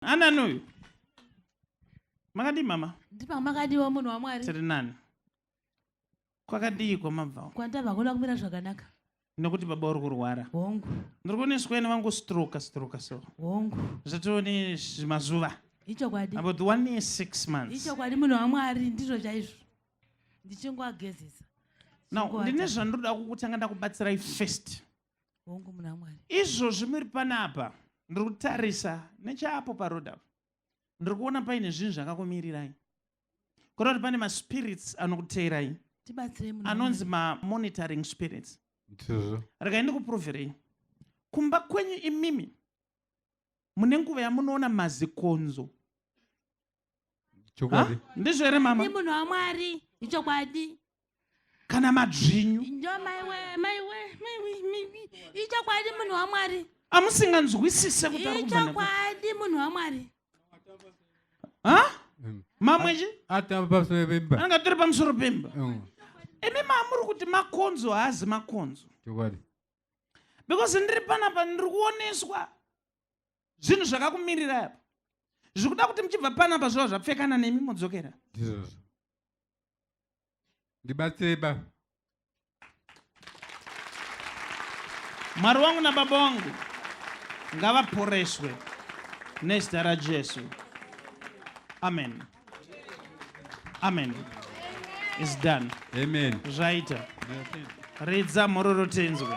anani uyu makadii mama ndipanga makadiwa munhu wamwari tiri nani kwakadii kwamabvawo kwandabva kuda kumira zvakanaka nekuti baba uri kurwara hongu ndiri kuoneswa nevangu stroka stroka so hongu zvatione mazuva ichokwadi about the one year six months ichokwadi munhu wamwari ndizvo chaizvo ndichingoagezesa now ndine zvandoda kukutanga ndakubatsirai first hongu muna mwari izvozvi muri panapa ndiri kutarisa nechaapo parod apo ndiri kuona paine zvinhu zvakakumirirai kuda kuti pane maspirits anokuteerai anonzi mamonitoring spirits regai ndikuproverei kumba kwenyu imimi mune nguva yamunoona mazikonzo chokwadi ndizvo here mama munhu wamwari ichokwadi kana madzvinyu ichokwadi munhu wamwari amusinganzwisise kuti ichokwadi munhu wamwari mamwechi anga tiri pamusoro pemba imi maamuri kuti makonzo haazi makonzo because ndiri panapa ndiri kuoneswa zvinhu zvakakumirira apa zviri kuda kuti muchibva panapa zvova zvapfekana nemi modzokera ndizvozvo ndibatsirei ba mwari wangu nababa wangu ngavaporeswe nezita rajesu amen amen is done amen zvaita ridza mhororo tenzwe